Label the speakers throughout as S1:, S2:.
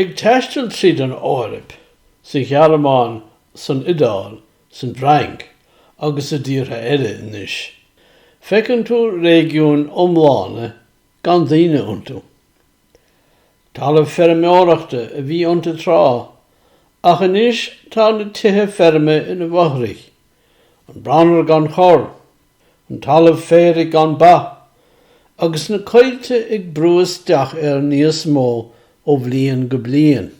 S1: Ag taisteal tríd an Eoraip, sa Ghearmáin, san Iodáil, san bhFrainc agus i dtíortha eile anois, feiceann tú réigiúin iomlána gan daoine iontu. Talamh feirmeoireachta a bhí iontu tráth, ach anois tá na tithe feirme ina bhfothrach an branar gan chor, an talamh féaraigh gan ba, agus na coillte ag brú isteach air níos mó ó bhliain go bliain.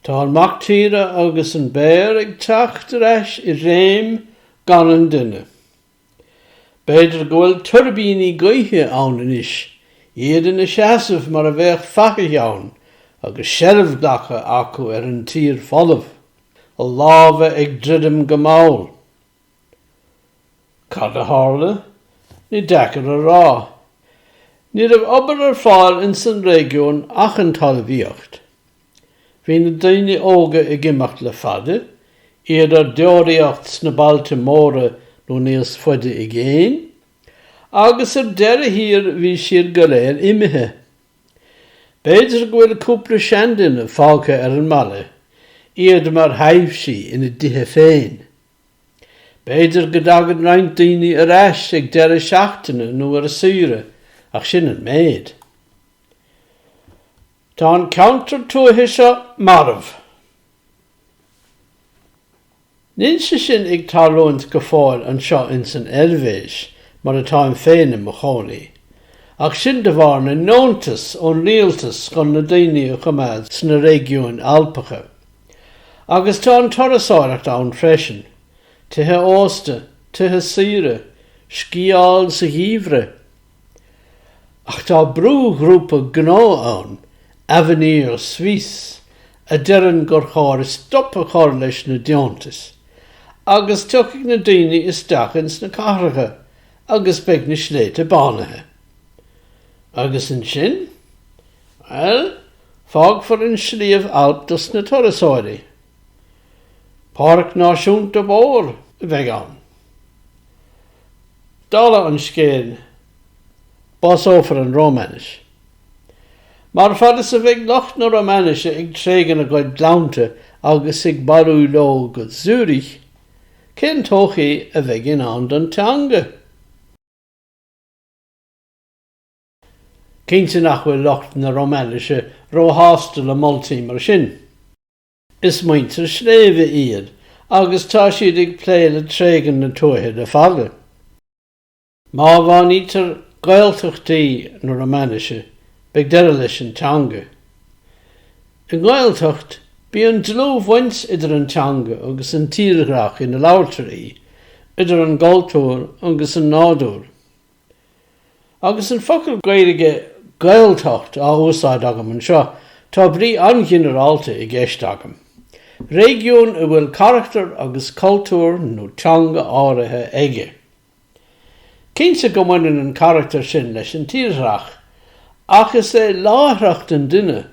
S1: Tá an mac tíre agus an béar ag teacht ar ais i réim gan an duine. B'fhéidir go bhfuil tuirbíní gaoithe ann anois, iad ina seasamh mar a bheadh fathaigh ann agus seilbh glactha acu ar an tír folamh, a lámha ag druidim go mall. Cad a tharla? Ní deacair a rá. Ní raibh obair ar fáil insan réigiún ach an talmhaíocht. Bhí na daoine óga ag imeacht le fada, iad ar deoraíocht sna bailte móra nó níos faide i gcéin, agus ar deireadh thiar bhí siad go léir imithe. B'fhéidir go bhfuil cúpla seanduine fágtha ar an mbaile, iad mar thaibhsí ina dtithe féin. B'fhéidir go dtagann roinnt daoine ar ais ag deireadh seachtaine nó ar saoire, ach sin an méid. Tá an ceantar tuaithe seo marbh. Níl sé sin ag tarlúint go fóill anseo ins an Eilbhéis, mar atáim féin i mo chónaí, ach sin de bharr na ndeontas ón rialtas chun na daoine a choimeád sna réigiúin Alpacha. Agus tá an turasóireacht ann freisin, tithe ósta, tithe saoire, sciáil sa gheimhreadh, Ach tá brúghrúpa gnó ann, Avenir Suisse, a deireann gur chóir stop a chur leis na deontais agus tiocfaidh na daoine isteach ins na cathracha agus beidh na sléibhte bánaithe. Agus ansin? Bhuel, fágfar an Sliabh Alp dos na turasóirí. Páirc náisiúnta mhór a bheidh ann. Dála an scéil, básófar an Rómainis. Mar fad is a bheidh lucht na Rómainise ag tréigean a gcuid gleannta agus ag bailiú leo go Zürich, cén todhchaí a bheidh i ndán don teanga? Cinnte nach bhfuil lucht na Rómainise róshásta le moltaí mar sin. Is muintir sléibhe iad agus tá siad ag plé le tréigean na tuaithe le fada. Má bhánaítear Gaeltachtaí na Rómainise, beidh deireadh leis an teanga. I nGaeltacht, bíonn dlúthbhaint idir an teanga agus an tírdhreach ina labhartar í, idir an gcultúr agus an nádúr. Agus an focal Gaeilge 'Gaeltacht' á úsáid agam anseo, tá brí an-ghinearálta i gceist agam. Réigiún a bhfuil carachtar agus cultúr nó teanga áirithe aige. Cinnte go mbaineann an carachtar sin leis an tírdhreach, ach is é láithreacht an duine,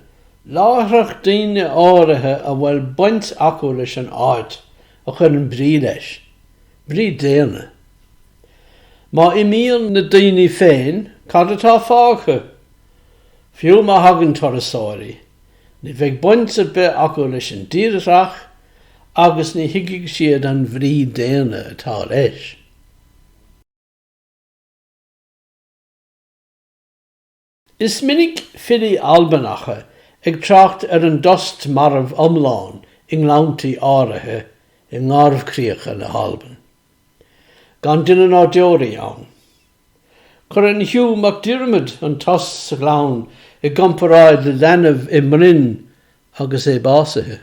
S1: láithreacht daoine áirithe a bhfuil baint acu leis an áit, a chuireann brí leis. Brí daonna. Má imíonn na daoine féin, cad atá fágtha? Fiú má thagann turasóirí, ní bheidh baint ar bith acu leis an dtírdhreach agus ní thuigfidh siad an bhrí daonna atá leis. Is minic filí Albanacha ag trácht ar an dtost marbh iomlán i ngleanntaí áirithe i nGarbhchríocha na hAlban. Gan duine ná deoraí ann. Cuireann Hugh MacDiarmid an tost sa ghleann i gcomparáid le leanbh i mbroinn agus é básaithe.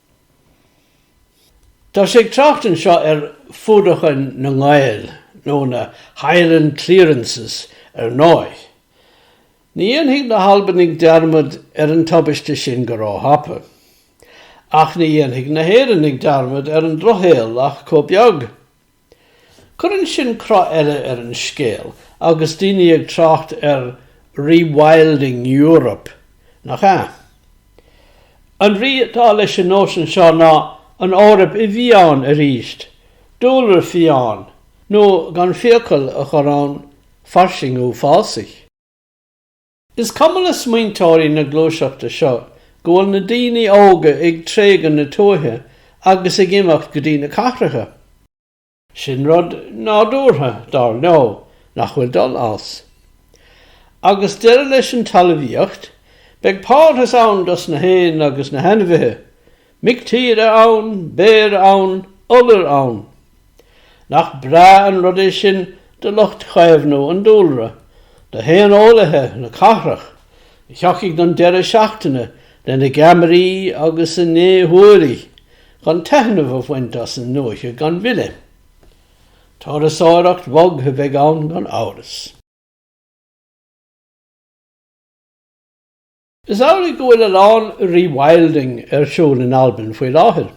S1: Tá sé ag trácht anseo ar Fuadaichean nan Gàidheal, nó na 'Highland Clearances' ar ndóigh. Ní dhéanfaidh na hAlbanaigh dearmad ar an tubaiste sin go róthapa. Ach ní dhéanfaidh na hÉireannaigh dearmad ar an Drochshaol ach chomh beag. Cuireann sin cruth eile ar an scéal agus daoine ag trácht ar 'rewilding Europe', nach ea? An bhrí atá leis an nóisean seo ná an Eoraip i bhfiáin arís, dúlra fiáin, nó gan fiacail a chur ann, fairsingiú fásaigh. Is cuma le smaointeoirí na gluaiseachta seo go bhfuil na daoine óga ag tréigean na tuaithe agus ag imeacht go dtí na cathracha. Sin rud nádúrtha, dar leo, nach bhfuil dul as. Agus deireadh leis an talmhaíocht, beidh parthas ann dos na héin agus na hainmhithe. Mic tíre ann, béir ann, iolair ann. Nach breá an rud é sin do lucht caomhnú an dúlra, do shaoneolaithe na cathrach, a thiocfaidh don deireadh seachtaine lena gceamaraí agus a ndéshúiligh chun taitneamh a bhaint as an ndúiche gan mhilleadh. Turasóireacht bhog a bheidh ann gan amhras. Is amhlaidh go bhfuil a lán 'rewilding' ar siúl in Albain faoi láthair.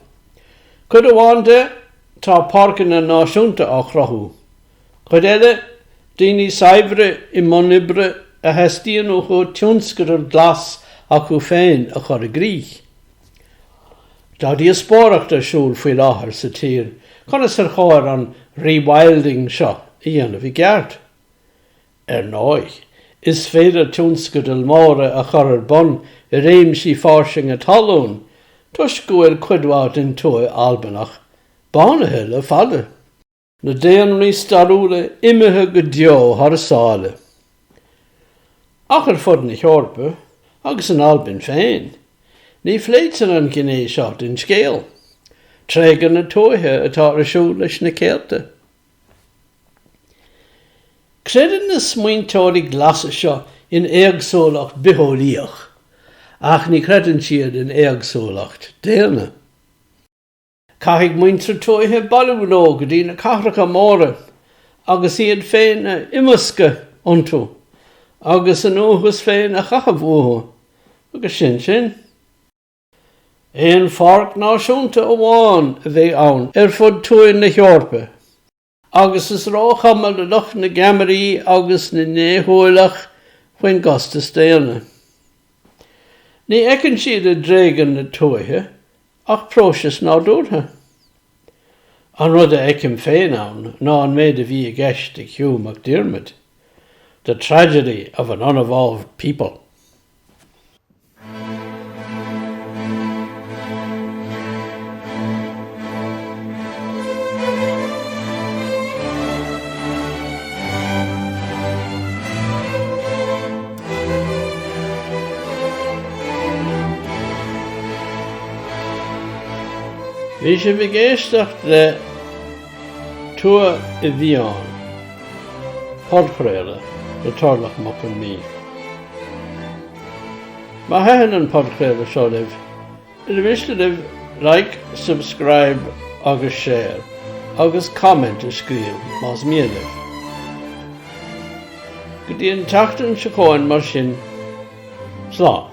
S1: Cuid amháin de, tá páirceanna náisiúnta á chruthú. Cuid eile, daoine saibhre i mbun oibre a theastaíonn uathu tionscadal glas acu féin a chur i gcrích. Tá díospóireacht ar siúl faoi láthair sa tír conas ar chóir an 'rewilding' seo a dhéanamh i gceart. Ar ndóigh, is féidir tionscadail mhóra a chur ar bun i réimsí fairsinge talún toisc go bhfuil cuid mhaith den tuath Albanach bánaithe le fada, na daonraí stairiúla imithe go deo thar sáile. Ach ar fud na hEorpa, agus in Albain féin, ní phléitear an ghné seo den scéal, tréigean na tuaithe atá ar siúl leis na céadta Creideann na smaointeoirí glasa seo in éagsúlacht bitheolaíoch, ach ní chreideann siad in éagsúlacht daonna. Caithfidh muintir tuaithe bailiú leo go dtí na cathracha móra agus iad féin a imeascadh iontu agus a ndúchas féin a chaitheamh uathu, agus sin sin. Aon pháirc náisiúnta amháin a bheidh ann ar fud tuath na hEorpa agus is róchuma le lucht na gceamaraí agus na ndéshúileach faoin gcostas daonna. Ní fheiceann siad i dtréigean na tuaithe ach próiseas nádúrtha. An rud a fheicim féin ann ná an méid a bhí i gceist ag Hugh MacDiarmid, the tragedy of an unevolved people. Bhí sibh ag éisteacht le Tuath i bhFiáin, podchraoladh le Torlach Mac Con Midhe. Má thaitin an podchraoladh seo libh, ar mhiste libh like, subscribe agus share agus comment a scríobh más mian libh. Go dtí an tseachtain seo chugainn mar sin, slán.